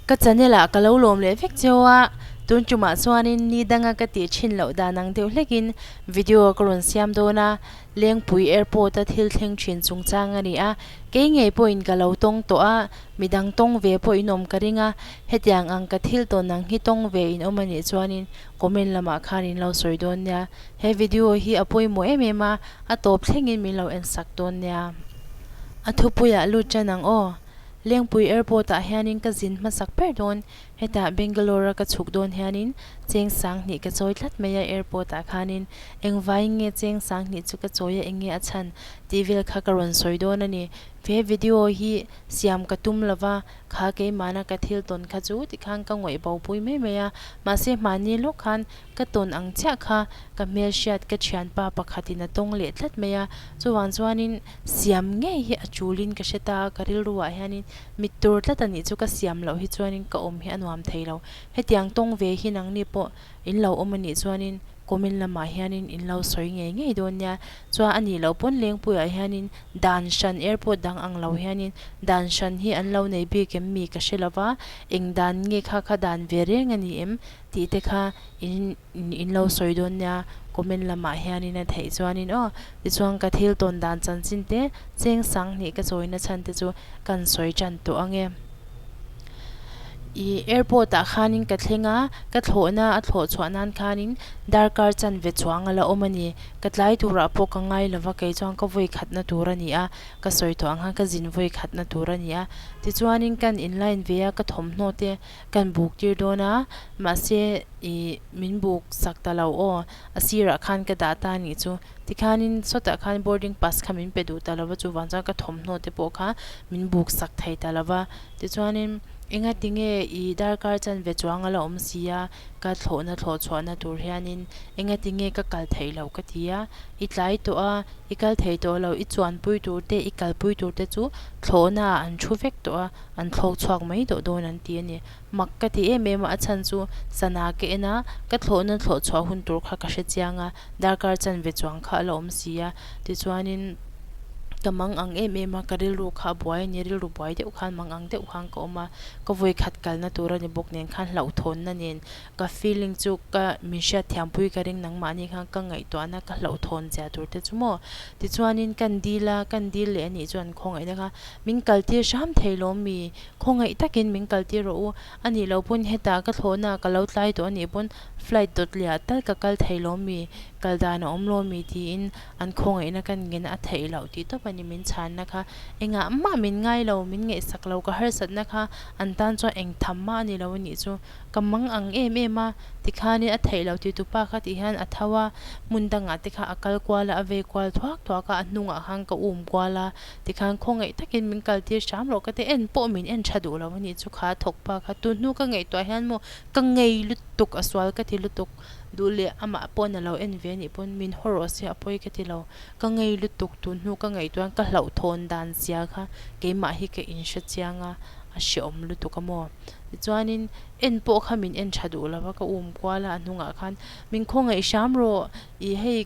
Ka channel ah ka lo lawm leh vek cheu a, tun tumah chuanin ni danga ka tih thin loh dan ang deuh hlekin video ka rawn siam dawn a, Lengpui Airport a thil thleng thin chungchang a ni a, kei ngei pawhin ka lo tawng tawh a, midang tawng ve pawhin awm ka ring a, hetiang ang ka thil tawn ang hi tawng ve in awm a nih chuanin comment lamah khan in lo sawi dawn nia, he video hi a pawimawh em em a, a tawp thlengin min lo en sak dawn nia. A thupui ah lut tan ang aw. Lengpui Airport ah hianin ka zin hmasak ber dawn, hetah Bangalore a ka chhuk dawn hianin cheng sang hnih ka chawi tlat mai a, Airport ah khanin engvaiin nge cheng sang hnih chu ka chawi a, enge a chhan tih vel kha ka rawn sawi dawn a ni. He video hi siam ka tum lo va, kha keimahna ka thil tawn kha chu tikhan ka ngawihbopui mai mai a, mahse hmani lawk khan ka tawn ang chiah kha, ka hmelhriat ka thianpa pakhatin a tawng leh tlat mai a, chuvang chuanin siam ngei hi a chulin ka hre ta a, ka rilruah hianin mit tur tlat a nih chu ka siam loh hi chuanin ka awm hi a nuam thei lo, hetiang tawng ve hi nangni pawh in lo awm a nih chuanin comment lamah hianin in lo sawi ngei ngei dawn nia, chuan a nih loh pawn Lengpuiah hianin dan hran airport dang ang lo hianin dan hran hi an lo nei bik em mi ka hre lova, eng dan nge kha kha dan ve reng a ni em? Tih te kha in in lo sawi dawn nia comment lamah hianin a theih chuanin aw tichuan ka thil tawn dan chanchin te cheng sang hnih ka chawina chhan te chu kan sawi tan tawh ange. I airport ah khanin ka thleng a, ka thlawhna a thlawh chhuah nan khanin darkar chan ve chuang ala awm ani. Ka tlai turah pawh ka ngai lova kei chuan ka vawi khatna tur ania ka sawi tawh ang khan ka zin vawi khatna tur ania tichuanin kan in line ve a ka thawmhnaw te. Kan buk tir dawn a, mahse i min buk sak ta lo aw, a sirah khan ka dah ta nih chu. Tikhanin sawtah khan boarding pass kha min pe duh ta lo va, chuvang chuan ka thawmhnaw te pawh kha min buk sak thei ta lo va. Tichuanin enga tinge i darkar chan ve chuang a la awm si a, ka thlawhna thlawh chhuahna tur hianin enga tinge ka kal theih lo ka ti a, i tlai tawh a, i kal thei tawh lo, i chuanpui tur te, i kalpui tur te chu thlawhnaah an thu vek tawh a. An thlawk chhuak mai deuh dawn an ti a ni. Mak ka ti em em a, a chhan chu sana ka en a, ka thlawh na thlawh chhuah hun tur kha ka hre chiang a, darkar chan ve chuang kha a la awm si a. Tichuanin ka mang ang em em a, ka rilru kha a buai a ni, rilru buai deuh khan mang ang deuh khan ka awm a, ka vawi khat kalna tur a ni bawk nen khan hlauh thawn na nen ka feeling chu ka min hriat thiam pui ka ring nangmah ni khan ka ngaihtuah na ka hlauh thawn zia tur te chu maw. Tichuanin kan deal a, kan deal leh anih chuan khawngaihna kha. Min kaltir hram thei lawm mi? Khawngaih takin min kaltir rawh u. A nih loh pawn hetah ka thlawhnaah ka lo tlai tawh a nih pawn flight dawt leh ah tal ka kal thei lawm mi? Kal dan a awm lawm mi? tiin an khawngaihna kan ngen a theih loh tih tawp a ni min chhanna kha. Engah mah min ngai lo, min ngaihsak lo ka harsatna kha an tan chuan eng tham mah a ni lo a nih chu. Ka mang ang em em a, tikhanin a theih loh tih tu pa kha tih hian a tho a, hmun dangah te kha a kal kual a, a vei kual thuak thuak a, a hnungah khan ka um kual a. Tikhan khawngaih takin min kal tir hrâm lo, ka ti en pawh min en ṭha duh lo a nih chu kha, thawk pa kha. Tun hnu ka ngaihtuah hian maw ka ngei lutuk a sual ka ti lutuk. Duh leh amah pawn a lo en ve nih pawn min haw rawh se a pawi ka ti lo. Ka ngei lutuk tun hnu ka ngaihtuahin ka hlauh thawn dan zia kha keimah hi ka inhre chiang a, a hrehawm lutuk a maw. Tichuanin en pawh kha min en ṭha duh lo a, ka um kual a, a hnungah khan min khawngaih hrâm rawh, i hei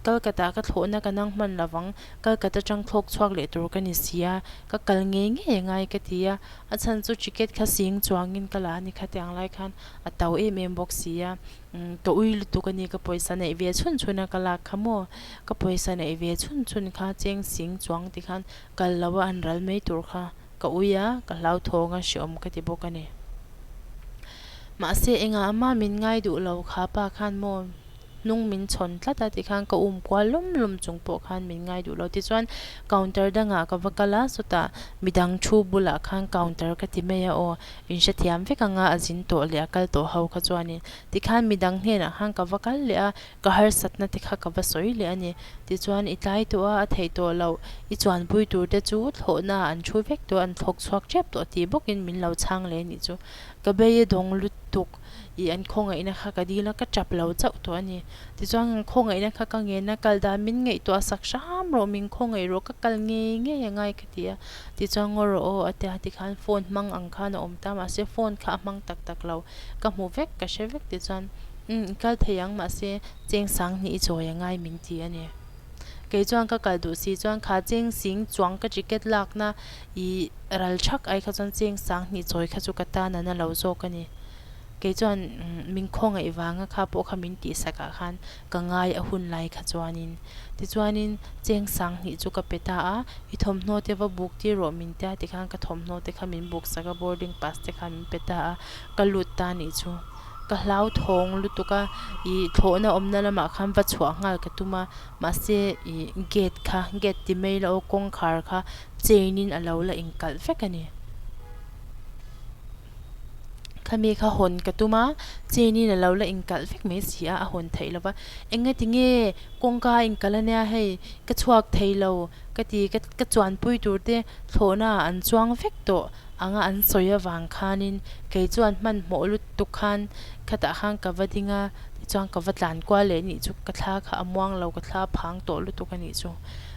Calcutta ka thlawhna ka nang hman lovang, Calcutta tang thlawk chhuak leh tur ka ni sia, ka kal ngei ngei a ngai ka ti a, a chhan chu ticket kha sing chuangin ka la a ni khat ang lai khan a tau em em bawk sia, umm ka ui lutuk a ni ka pawisa neih ve chhun chhun a ka lak kha maw, ka pawisa neih ve chhun chhun kha cheng sing chuang ti khan kal lo a an ral mai tur kha ka ui a ka hlauthawng a hreawm ka ti bawk a ni. Mahse engah ama min ngai duh lo kha pa khan maw? Hnung min chhawn tlat a ti khan ka um kual lum lum chung pawh khan min ngai duh lo. Tichuan counter dangah ka va kal a, sawtah midang thu bulah khan counter ka ti mai a aw, in hre thiam vek anga a zin tawh leh a kal tawh ho kha chuanin. Tikhan midang hnenah khan ka va kal leh a, ka harsatna te kha ka va sawi leh a ni. Tichuan i tlai tawh a, a theih tawh loh, i chuanpui tur te chu thlawhnaah an thu vek tawh, an thlawk chhuak ṭep tawh tih bawkin min lo chhang leh a nih chu. Ka bei a dawng lut tuk. i an khawngaihna kha ka dil a, ka tap lo chauh tawh a ni. Tichuan an khawngaihna kha ka ngen a, kal dan min ngaih tawh a, sak hram rawh, min khawngaih rawh, ka kal ngei ngei a ngai ka ti a. Tichuan ngaw rawh aw a ti a, tikhan phone hmang ang khan a awm ta, mahse phone kha a hmang tak tak lo, ka hmu vek ka hre vek tichuan umm i kal thei ang mahse cheng sang hnih i chawi a ngai min ti a ni. Kei chuan ka kal duh si chuan kha cheng sing chuang ka ticket lakna. I ral chak ai kha chuan cheng sang hnih chawi kha chu ka tan an a lo zawk a ni. Kei chuan min khawngaih vang a kha pawh kha min tih sak ah khan ka ngai a hun lai kha chuanin. Tichuanin cheng sang hnih chu ka pe ta a, i thawmhnaw te va buk tir rawh min tia tikhan ka thawmhnaw te kha min buk sak a, boarding pass te kha min pe ta a, ka lut ta nih chu. Ka hlau thawng lutuk a, i thlawhna awmna lamah khan va chhuah nghal ka tum a, mahse i gate kha, gate ti mai la aw, kawngkhar kha, chain in a lo la inkalh vek a ni. Khami kha hawn ka tum a, chain in a lo la inkalh vek mai si a, a hawn theih lo va, enge ti nge kawngka a inkalh ania hei, ka chhuak thei lo ka ti, ka ka chuanpui tur te thlawhna ah an chuang vek tawh ang a, an sawi avang khanin kei chuan hmanhmawh lut tuk khan khatah khan ka va ding a, tichuan ka va tlan kual leh nih chu, ka thla kha a muang lo, ka thla phang tawh lutuk a nih chu.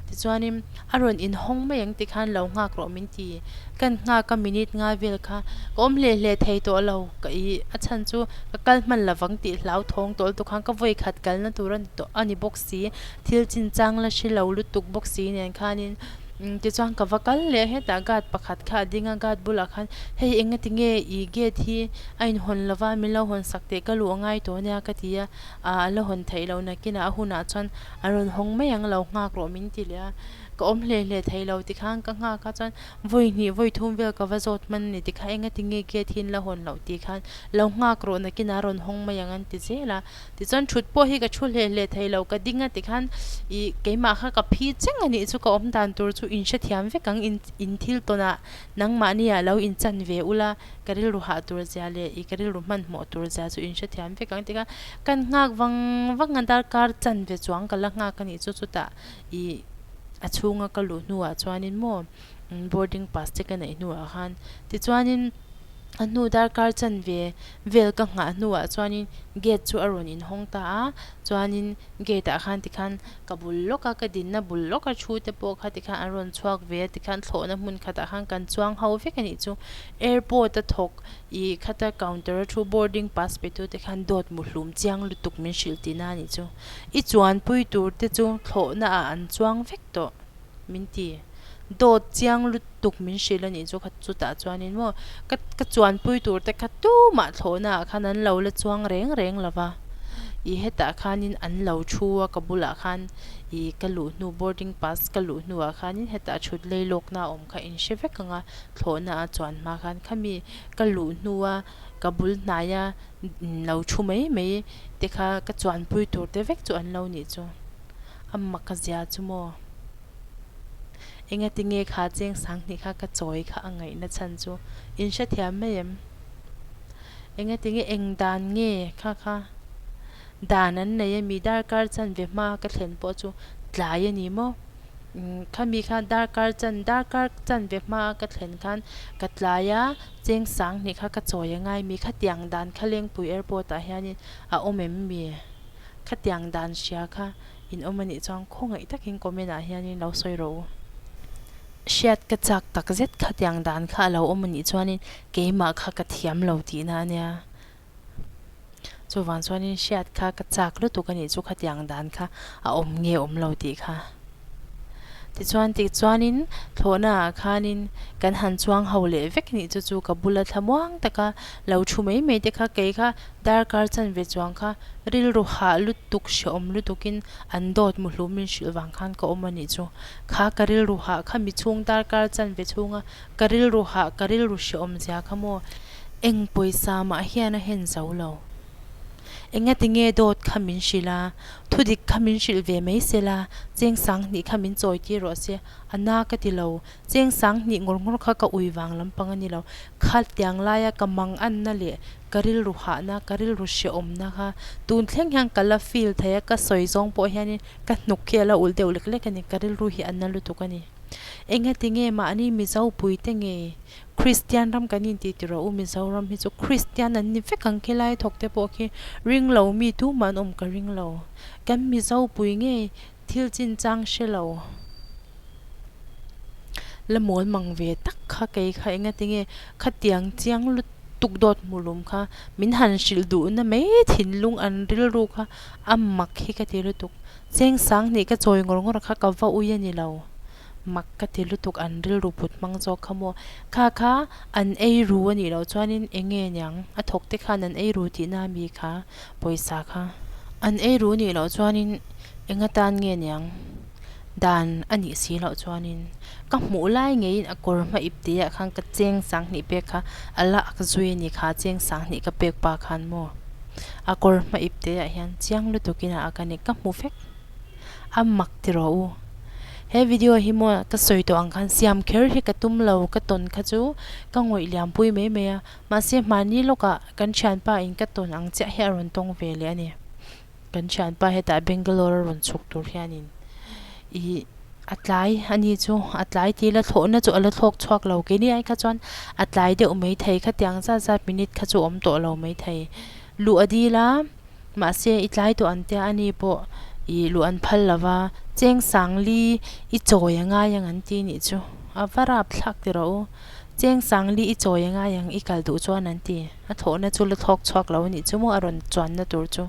Tichuanin, a rawn inhawng mai ang tikhan lo nghak rawh min ti. Kan nghak a minute ngai vel kha ka awm hle hle thei tawh lo ka i, a chhan chu ka kal hman lovang tih hlau thawng tawh lutuk khan ka vawi khat kalna tur a ni tawh a ni bawk si. Thil chin chang la hre lo lutuk bawk si nen khanin, umm tichuan ka va kal leh hetah guard pakhat kha a ding a, guard bulah khan hei enga ti nge i gate hi a inhawn lova min lo hawn sak teh ka luh a ngai tawh nia ka ti a, aa a la hawn theih loh nakinah a hunah chuan, A rawn hawng mai ang lo nghak rawh min ti leh a, ka awm hle hle thei lo ti khan ka nghak a chuan vawi hnih vawi thum vel ka va zawt hman ni ti kha enga ti nge gate hi in la hawn loh tih khan lo nghak rawh nakin a rawn hawng mai ang an ti zel a, tichuan thut pawh hi ka thu hle hle thei lo ka ding a ti khan i keimah kha ka phi cheng a nih chu ka awm dan tur chu in hre thiam vek ang in in thil tawn ah nangmah ni ah lo in chan ve ula ka rilru hah tur zia leh i ka rilru hman hmawh tur zia chu in hre thiam vek ang ti kha. Kan nghak vang vanga darkar chan ve chuang ka la nghak a nih chu chutah i a chhunga ka luh hnuah chuanin maw boarding pass te ka neih hnuah khan tichuanin a hnu darkar chan ve vel ka nghah hnuah chuanin gate chu a rawn inhawng ta a, chuanin gate ah khan tikhan ka bul lawk a ka dinna bul lawk a thu te pawh kha tikhan an rawn chhuak ve a tikhan thlawhna hmun khatah khan kan chuang ho vek a nih chu airport a thawk I khata counter a thu boarding pass pe tute khan dawt mu hlum chiang lutuk min hrilh ti na nih chu I chuan pui tur te chu thlawh na ah an chuang vek tawh min ti dawt chiang lutuk min hrilh anih chu kha chutah chuan in maw ka ka chuan pui tur te kha tumah thlawh na ah khan an lo la chuang reng reng lo va I hetah khan in an lo thu a ka bulah khan I ka luh hnu boarding pass ka luh hnu ah khan in hetah thutlei lawk na awm. Ka in hre vek ang a, thlawhna a chuan hma khan khami ka luh hnua ka bul hnaia in lo thu mai mai te kha ka chuan pui tur te vek chu an lo nih chu. Amah ka zia chu maw? Engati nge kha cheng sang hnih kha ka chawi kha a ngaih na chhan chu in hrethiam mai em? Engati nge eng dan nge kha kha dan an nei a mi darkar chan ve hma ka thlen pawh chu tlai a ni maw? Khami khan darkar chan darkar chan ve hma ka thlen khan ka tlai a, cheng sang hnih kha ka chawi a ngai mi khatiang dan kha Lengpui airport ah hianin a awm em mi? Khatiang dan hria kha in awm a nih chuan khawngaih takin comment ah hianin lo sawi rawh u. Hriat ka chak takzet khatiang dan kha a lo awm a nih chuanin keimah kha ka thiam lo tihna a nia. Chuvang chuanin hriat kha ka chak lutuk anih chu khatiang dan kha a awm nge awm lo tih kha. Tichuan tikchuanin thlawhna ah khanin kan han chuang ho leh vek nih chu chu ka bula thla muang taka lo thu mai mai te kha kei kha darkar chanve chuang kha rilru hah lutuk hre awm lutukin an dawt muhlumin hrilh vang khan ka awm anih chu kha ka rilru hah kha mi chhung darkar chanve chhunga Ka rilru hah, ka rilru hre awm zia kha maw? Eng pawisa mah hian a hen zo lo. Enga tinge dawt kha min hrilh la, thudik kha min hrilh ve mai se la, cheng sang hnih kha min chawi tir rawh se. A na ka ti lo. Cheng sang hnih ngawr ngawr kha ka ui vang lampang a ni lo. Kha tiang laia ka mang anna leh ka rilru hahna, ka rilru hre awmna kha tun thleng hian ka la feel thei a, ka sawi zawng pawh hianin ka hnuk hi a la ulh deuh lek lek a ni. Ka rilru hi a na lutuk a ni. Enge tinge mahni Mizo puite nge Kristian ram kan inti tirah u, Mizoram hi chu Kristian an ni vek ang khi Lai thawk te pawh khi ring lo mi tu mah an awm ka ring lo. Kan Mizo pui nge thil chin chang hre lo la mawl mang ve tak kha kei kha enge tinge khatiang chiang lutuk dawt hmu lum kha min han hrilh duh na mai thinlung an rilru kha a mak hi ka ti lutuk. Cheng sang hnih ka chawi ngawr ngawr kha ka va ui a ni lo. Mak ka ti lutuk an rilru put hmang zawk kha maw? Kha kha an ei ru a nih loh chuanin eng nge niang a thawk te khan an ei ru tihna a mi kha pawisa kha an ei ru nih loh chuanin eng atan nge niang dan a nih si loh chuanin ka hmuh lai ngeiin a kawr hma ip tihah khan ka cheng sang hnih pek kha a la ak zui a ni kha cheng sang hnih ka pek pa khan maw? a kawr hma ip te ah hian chiang lutuk in a ak a ni ka hmu vek a mak ti rawh u he video hi maw ka sawi tawh ang khan siam kher hi ka tum lo ka tawn kha chu ka ngawih liam pui mai mai a mahse hmani lawk ah kan thianpa in ka tawn ang chiah hi a rawn tawng ve leh a ni kan thianpa hetah bangalore a rawn chhuk tur hian in ih A tlai a ni chu, a tlai tih la thlawhna chu a la thlawk chhuak lo ke ni ai kha chuan a tlai deuh mai thei khatiang zat zat minute kha chu awm tawh lo mai thei. Luh a dil a, mahse i tlai tawh an tia ani pawh i luh an phal lo va, Chengsangli i chawi a ngai ang an ti nih chu, a va rap thlak ti rawh u. Cheng Sangli i chawi a ngai ang i kal duh chuan an ti. A thawhna chu la thlawk chhuak lo a nih chu maw a rawn chuanna tur chu.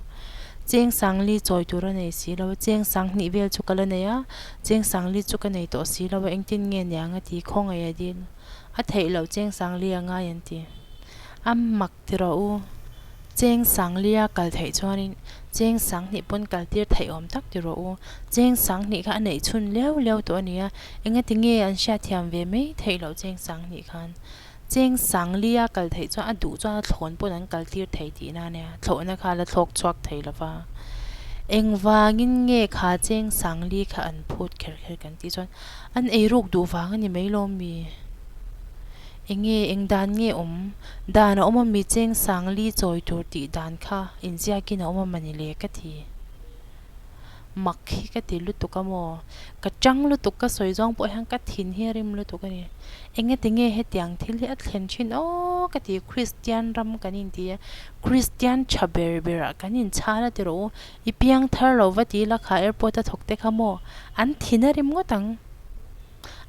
Cheng Sangli chawi tur a nei si lo, Cheng Sanghnih vel chu ka la nei a, Cheng Sangli chu ka nei tawh si lo a, engtin nge niang a ti khawngaih a dil. A theih loh Cheng Sangli a ngai an ti. A mak. Ti rawh u, Cheng Sanglia kal theih chuanin Cheng Sanghnih pawn kal tir theih awm tak ti rawh u, Cheng Sanghnih kha a neih chhun leu leu tawh a nia, enge tinge an hriatthiam ve mai theih loh Cheng Sanghnih khan. Cheng Sanglia kal theih chuan a duh chuan a thlawn pawn an kal tir thei tih nan nia, thlawhna kha a la thlawk chhuak thei lo va. Engvangin nge kha Cheng Sangli kha an phut kher kher kan tih chuan, an ei ruk duh vang a ni mai lawm mi? Enge, eng dan nge awm? Dan a awm a mi cheng sang li chawi tur tih dan kha inziakin a awm a mani le ka ti. Mak hi ka ti lutuk a maw? Ka chang lutuk, ka sawi zawng pawh hian ka thin hi a rim lutuk a ni. Enge ti nge hetiang thil hi a thlen thin aw ka ti, Kristian ram kan inti a, Kristian tha ber berah kan inchhal a ti rawh u, i piang thar lo va ti lakah airport a thawk te kha maw? An thin a rim ngawt ang.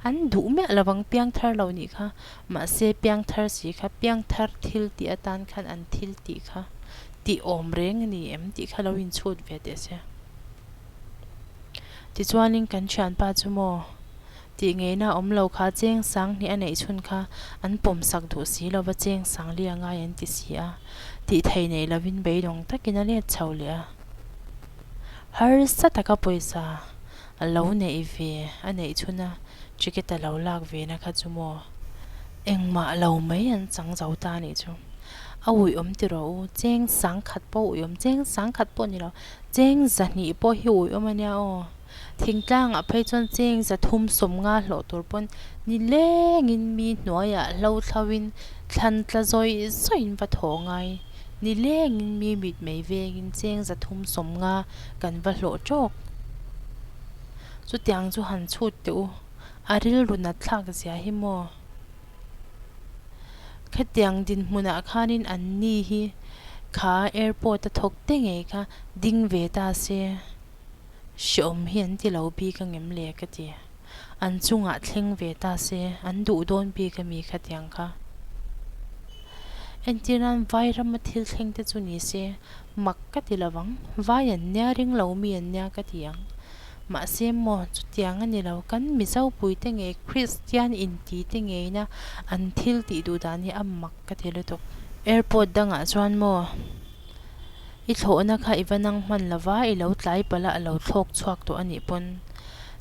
An duh miah lovang piangthar lo nih kha, mahse piangthar si kha, piangthar thil tih atan khan an thil tih kha tihawm reng a ni em tih kha lo inchhut ve teh se. Tichuanin kan thianpa chu maw, tih ngeihna awm lo kha cheng sang hnih a neih chhun kha an pawm sak duh si lova cheng sang li angai an ti si a, tih thei neih lovin beidawng takin a let chho leh a. Harsa taka pawisa. A lo neih ve, a neih chhun a, ticket-a lo lak ve na kha chu maw? Engmah lo mai an chang zo ta anih chu. A uiawm tiraw u, cheng sang khat pawh uiawm, cheng sang khat pawh ni lo, cheng zahnih pawh hi uiawm a nia aw. Thingtlangah phei chuan cheng za thum sawm nga hlawh tur pawn ni lengin mi hnuaiah hlo thlauhin thlan tla zawi zawiin va thaw ngai. Ni lengin mi mitmei vengin cheng za thum sawm nga. kan va hlawh tawk. Chutiang chu han chhut teh u, a rilrun a thlak zia hi maw? Khatiang dinhmunah khanin an ni hi kha airport-a thawk te ngei kha ding ve ta se, hreawm hi an ti lo bik a ngem le ka ti. An chungah thleng ve ta se, an duh dawn bik a mi khatiang kha. Entirnan Vairam-a thil thleng te chu ni se, Mak ka ti lovang, vai an nia ring lo mi an nia ka ti ang. Mahse maw chutiang a ni lo, kan Mizo puite nge Kristian intite ngeina an thil tih duh dan hi a mak ka ti lutuk. Airport dangah chuan maw i thlawhna kha i va nang hman lova, i lo tlai palh a, a lo thlawk chhuak tawh a nih pawn.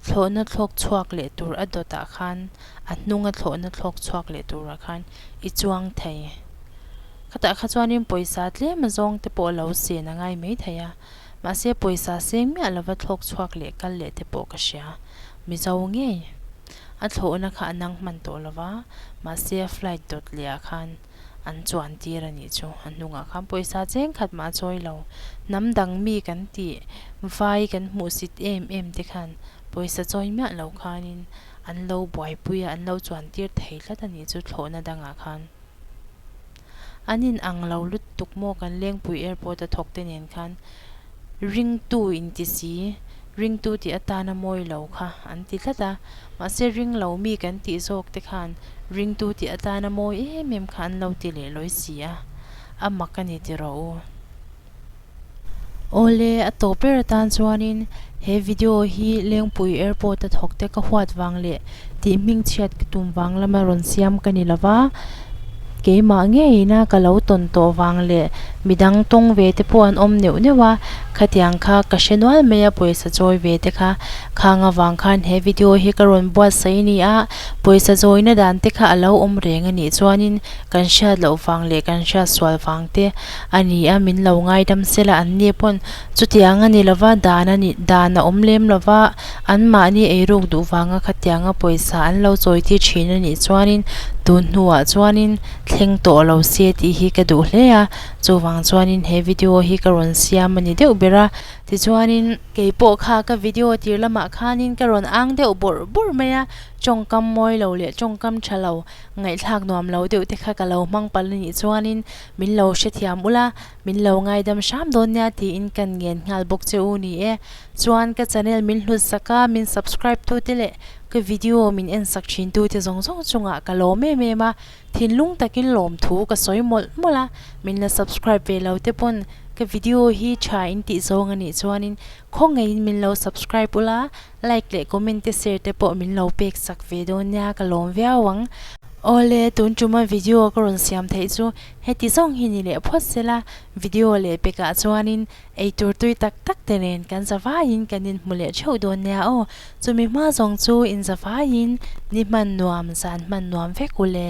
Thlawhna thlawk chhuak leh tur a dawtah khan, a hnunga thlawhna thlawk chhuak leh turah khan i chuang thei. Khata kha chuanin pawisa tlema zawng te pawh lo sen a ngai mai thei a, mahse pawisa seng miah lova thlawk chhuak leh kal leh te pawh ka hria. Mizo ngei. A thlawhna kha a nang hman tawh lova, mahse a flight dawt leh ah khan an chuan tir a nih chu. A hnungah khan pawisa cheng khat mah a chawi lo. Hnam dang mi kan tih, vai kan hmuhsit em em te khan pawisa chawi miah lo khanin, an lo buaipui a, an lo chuan tir thei tlat a nih chu thlawhna dangah khan. An inang lo lutuk maw kan Lengpui Airport a thawkte nen khan ringtu inti si, ringtu tih atan a mawi lo kha an ti tlat a, mahse ring lo mi kan tih zawk te khan ringtu tih atan a mawi em em kha an lo ti leh lawi si a, a mak a ni ti rawh u. Awle, a tawh ber atan chuanin he video hi Lengpui Airport-a thawkte ka huat vang le tih hming chhiat ka tum vang lama rawn siam ka ni lova, keimah ngeiin a ka lo tawn tawh vang leh midang tawng ve te pawh an awm neuh neuh a, khatiang kha ka hre nual mai a pawisa chawi ve te kha. Khang avang khan he video hi ka rawn buatsaih a ni a, pawisa zawina dan te kha a lo awm reng a nih chuanin kan hriat loh vang leh kan hriat sual vang te A ni a, min lo ngaidam sela an ni pawn. Chutiang a ni lo va, dan a ni, dan a awm lem lo va, anmahni eiruk duh vanga khatianga pawisa an lo chawiti thin a nih chuanin tun hnuah chuanin thleng tawh lo se tih hi ka duh hle a, chuvang chuanin he video hi ka rawn siam a ni deuh ber a. Tichuanin kei pawh kha ka video tir lamah khanin ka rawn ang deuh bawrh bawrh mai a, tawngkam mawi lo leh tawngkam tha lo, ngaihthlak nuam lo deuh te kha ka lo hmangpal a nih chuanin Min lo hrethiam ula, min lo ngaidam hram dawn nia tiin kan ngen nghal bawk che u ni e. Chuan ka channel min hlut sak a, min subscribe tute leh ka video min en sak thin tute zawng zawng chungah ka lawm em em a, thinlung takin lawm thu ka sawi mawlh mawlh a. Min la subscribe ve lo te pawn ka video hi tha in tih zawng anih chuanin khawngaih in min lo subscribe ula, Like leh comment te share te pawh min lo pek chak ve dawn nia ka lawm viau ang. Awle tun tuma video ka rawn siam theih chu heti zawng hi ni leh phawt sela video leh pekah chuanin eitur tui tak tak te nen kan zavaiin kan inhmu leh theuh dawn nia aw chumi hma zawng chu in zavaiin ni hman nuam zan hman nuam vek ule.